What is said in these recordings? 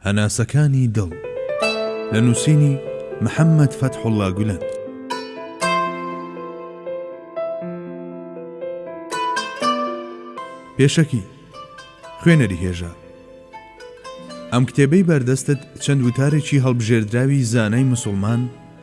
هەناسەکانی دڵ، لە نووسینی، محەممەد فەتحوڵڵا گولەن. پێشەکی، خوێنەری هێژا. ئەم کتێبەی بەردەستت چەند وتارێکی هەڵبژێردراوی زانای مسوڵمان،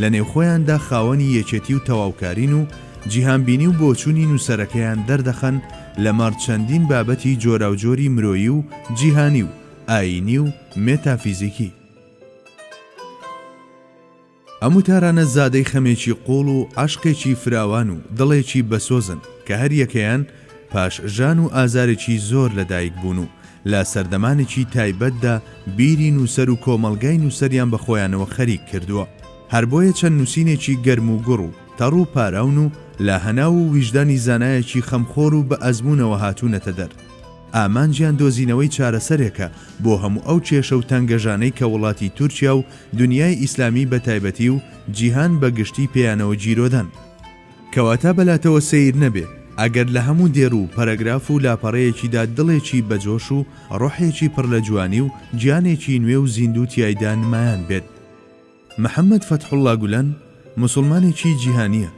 لە نێوخۆیاندا خاوەنی یەکێتی و تەواوکارین و جیهانبینی و بۆچوونی نووسەرەکەیان دەردەخەن لەمەڕ چەندین بابەتی جۆراوجۆری مرۆیی و جیهانی و ئایینی و مێتافیزیکی. ئەم وتارانە زادەی خەمێکی قووڵ و عەشقێکی فراوان و دڵێکی بەسۆزن کە هەریەکەیان، پاش ژان و ئازارێکی زۆر لە دایک بوون و لە سەردەمانێکی تایبەتدا بیری نووسەر و کۆمەڵگای نووسەریان بە خۆیانەوە خەریک کردووە. هەر بۆیە چەند نووسینێکی گەرم و گوڕ و تەڕ و پاراون و لە هەناو و ویژدانی زانایەکی خەمخۆر و بە ئەزموونەوە هاتوونەتە دەر. ئامانجیان دۆزینەوەی چارەسەرێکە بۆ هەموو ئەو کێشە و تەنگەژانەی کە وڵاتی تورکیا و دونیای ئیسلامی بە تایبەتی و جیهان بە گشتی پێیانەوە گیرۆدەن. کەواتە بە لاتەوە سەیر نەبێ ئەگەر لە هەموو دێر و پەرەگراف و لاپەڕەیەکیدا دڵێکی بە جۆش و ڕۆحێکی پڕ لە جوانی و گیانێکی نوێ و زیندوو تیایدا نمایان بێت. محەمەد فەتحوڵڵا گولەن موسوڵمانێکی جیهانییە،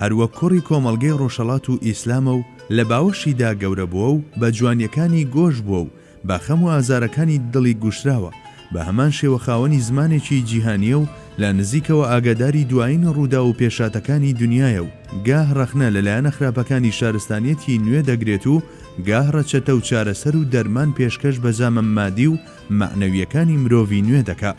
هەر وەک کوڕی کۆمەڵگەی ڕۆژهەڵات و ئیسلامە و لە باوەشیدا گەورە بووە و بە جوانییەکانی گۆش بووە و بە خەم و ئازارەکانی دڵی گوشراوە، بە هەمان شێوە خاوەنی زمانێکی جیهانییە و لە نزیکەوە ئاگاداری دوایین ڕووداو و پێشهاتەکانی دنیایە و گاه ڕەخنە لە لایەنە خراپەکانی شارستانیەتی نوێ دەگرێت و گاه ڕەچەتە و چارەسەر و دەرمان پێشکەش بە زامە مادی و مەعنەوییەکانی مرۆڤی نوێ دەکا.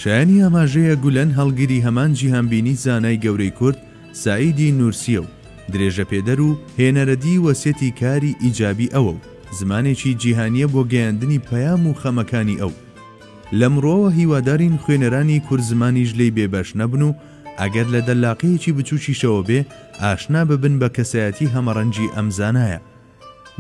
شایانی ئاماژەیە گولەن هەڵگری هەمان جیهانبینی زانای گەورەی کورد، سەعیدی نورسیە و درێژەپێدەر و هێنەرەدی و سێتی کاری ئیجابی ئەوە و زمانێکی جیهانیە بۆ گەیاندنی پەیام و خەمەکانی ئەو. لەمڕوەوە هیوادارین خوێنەرانی کورد زمانیش لێی بێ بەش نەبن و ئەگەر لە دەللاقەیەکی بچوکیشەوە بێ ئاشنا ببن بە کەسایەتی هەمەڕەنگی ئەم زانایە.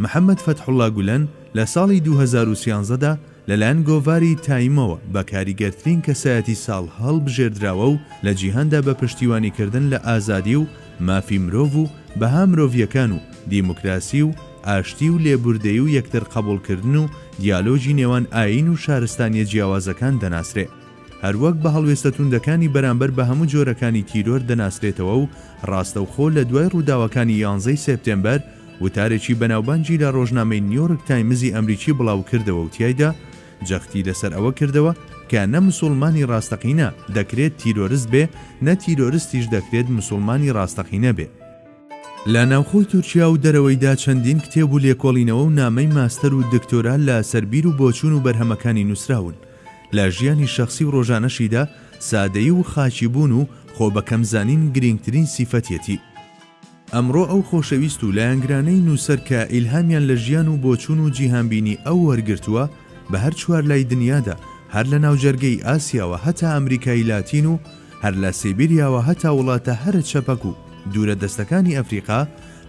محەمەد فەتحوڵا گولەن لە ساڵی دوو هەزار و سیانزە دا لەلایەن گۆڤاری تایمەوە بە کاریگەرترین کەسایەتی ساڵ هەڵبژێردراوە و لە جیهاندا بە پشتیوانیکردن لە ئازادی و مافی مرۆڤ و بەها مرۆڤییەکان و دیموکراسی و ئاشتی و لێبوردەیی و یەکتر قەبوڵکردن و دیالۆگی نێوان ئایین و شارستانییە جیاوازەکان دەناسرێ. هەروەک بە هەڵوێستە توندەکانی بەرامبەر بە هەموو جۆرەکانی تیرۆر دەناسرێتەوە و ڕاستەوخۆ لە دوای ڕووداوەکانی یانزە ی سێپتێمبەر وتارێکی بەناوبانگی لە ڕۆژنامەی نیۆرک تایمزی ئەمریکی بڵاوکردەوە و تیایدا جەختی لەسەر ئەوە کردەوە کە نە مسوڵمانی ڕاستەقینە دەکرێت تیرۆرست بێ نە تیرۆرستیش دەکرێت مسوڵمانی ڕاستەقینە بێ. لە ناوخۆی تورکیا و دەرەوەیدا چەندین کتێب و لێکۆڵینەوە و نامەی ماستەر و دکتۆرا لە سەر بیر و بۆچوون و بەرهەمەکانی نووسراون. لە ژیانی شەخسی و ڕۆژانەشیدا سادەیی و خاکیبوون و خۆبەکەمزانین گرینگترین سیفەتیەتی. ئەمڕۆ ئەو خۆشەویست و لایەنگرانەی نووسەر کە ئیلهامیان لە ژیان و بۆچوون و جیهانبینی ئەو وەرگرتووە بە هەر چوار لای دنیادا هەر لە ناوجەرگەی ئاسیاوە هەتا ئەمریکای لاتین و هەر لە سیبیریاوە هەتا وڵاتە هەرە چەپەک و دوورە دەستەکانی ئەفریقا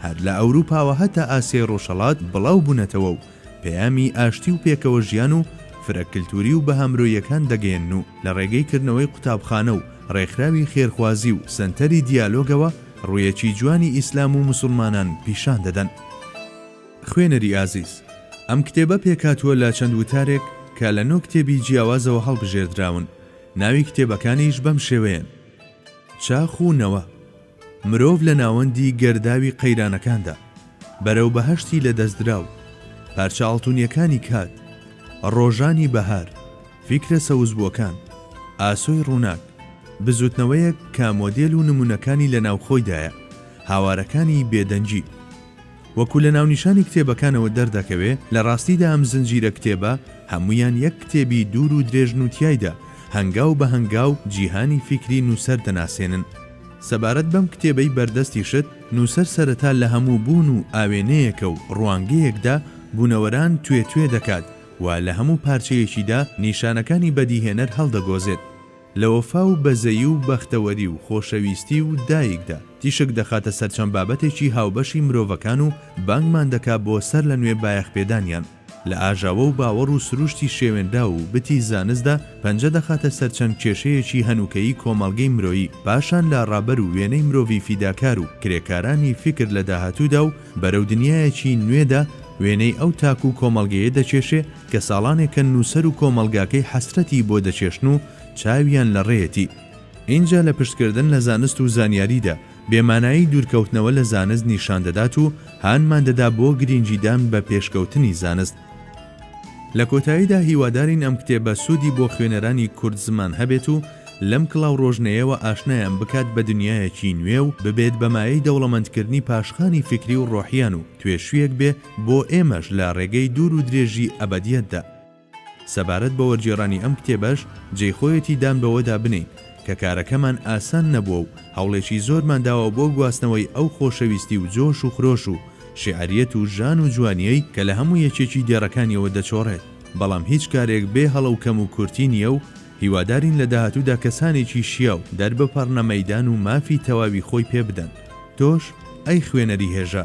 هەر لە ئەوروپاوە هەتا ئاسیای ڕۆژهەڵات بڵاو بوونەتەوە و پەیامی ئاشتی و پێکەوە ژیان و فرە کلتوری و بەها مرۆییەکان دەگەیەنن و لە ڕێگەی کردنەوەی قوتابخانە و ڕێکخراوی خێرخوازی و سەنتەری دیالۆگەوە ڕوویەکی جوانی ئیسلام و موسوڵمانان پیشان دەدەن. خوێنەری ئازیز، ئەم کتێبە پێکهاتووە لە چەند وتارێک کە لە نۆ کتێبی جیاوازەوە هەڵبژێردراون، ناوی کتێبەکانیش بەم شێوەیەن، چاخ و نەوە، مرۆڤ لە ناوەندی گەرداوی قەیرانەکاندا، بەرەو بەهەشتی لەدەستدراو، پارچە ئاڵتونیەکانی کات، ڕۆژانی بەهار، فیکرە سەوزبوەکان، ئاسۆی ڕوناک، بزوتنەوەیەک کە مۆدێل و نمونەکانی لەناوخۆیدایە، هاوارەکانی بێدەنگی. وەکو لە ناونیشانی کتێبەکانەوە دەردەکەوێ، لە ڕاستیدا ئەم زنجیرە کتێبە هەموویان یەک کتێبی دوور و درێژن و تیایدا هەنگاو بە هەنگاو جیهانی فیکری نووسەر دەناسێنن. سەبارەت بەم کتێبەی بەردەستیشت، نووسەر سەرەتا لە هەموو بوون و ئاوێنەیەکە و ڕوانگەیەکدا بوونەوەران توێ توێ دەکات و لە هەموو پارچەیەکیدا نیشانەکانی بەدیهێنەر هەڵدەگۆزێت. لە وەفا و بەزەیی و بەختەوەری و خۆشەویستی و دایکدا، تیشک دەخاتە سەر چەند بابەتێکی هاوبەشی مرۆڤەکان و بانگمان دەکا بۆ سەرلەنوێ بایەخپێدانیان. لە ئاژاوە و باوەڕ و سروشتی شێوێنراو و بتی زانستدا، پەنجە دەخاتە سەر چەند کێشەیەکی هەنووکەیی کۆمەڵگەی مرۆیی، پاشان لە ڕابەر و وێنەی مرۆڤی فیداکار و کرێکارانی فیکر لە داهاتوودا و بەرەو دنیایەکی نوێدا، وێنەی ئەو تاک و کۆمەڵگەیە دەکێشێ، کە ساڵانێکە نووسەر و کۆمەڵگاکەی حەسرەتی بۆ دەچێشن و چاویان لە ڕێیەتی. ئینجا لە پشتکردن لە زانست و زانیاریدا، بێمانایی دوورکەوتنەوە لە زانست نیشان دەدات و هانمان دەدا بۆ گرینگیدان بە پێشکەوتنی زانست. لە کۆتاییدا هیوادارین ئەم کتێبە سوودی بۆ خوێنەرانی کورد زمان هەبێت و لەم کڵاوڕۆژنەیەوە ئاشنایان بکات بە دنیایەکی نوێ و ببێت بە مایەی دەوڵەمەندکردنی پاشخانی فیکری و ڕۆحیان و توێشویەک بێ بۆ ئێمەش لە ڕێگەی دوور و درێژی ئەبەدیەتدا. سەبارەت بە وەرگێڕانی ئەم کتێبەش جێی خۆیەتی دان بەوەدا بنێین کە کارەکەمان ئاسان نەبووە و هەوڵێکی زۆرمان داوە بۆ گواستنەوەی ئەو خۆشەویستی و جۆش و خرۆش و شیعریەت و ژان و جوانیەی کە لە هەموو یەکێکی دێڕەکانیەوە دەچۆڕێت بەڵام هیچ کارێک بێ هەڵە و کەم و کورتی نیە و هیوادارین لە داهاتوودا کەسانێکی شیاو دەربپەڕنە مەیدان و مافی تەواوی خۆی پێ بدەن تۆش ئەی خوێنەری هێژا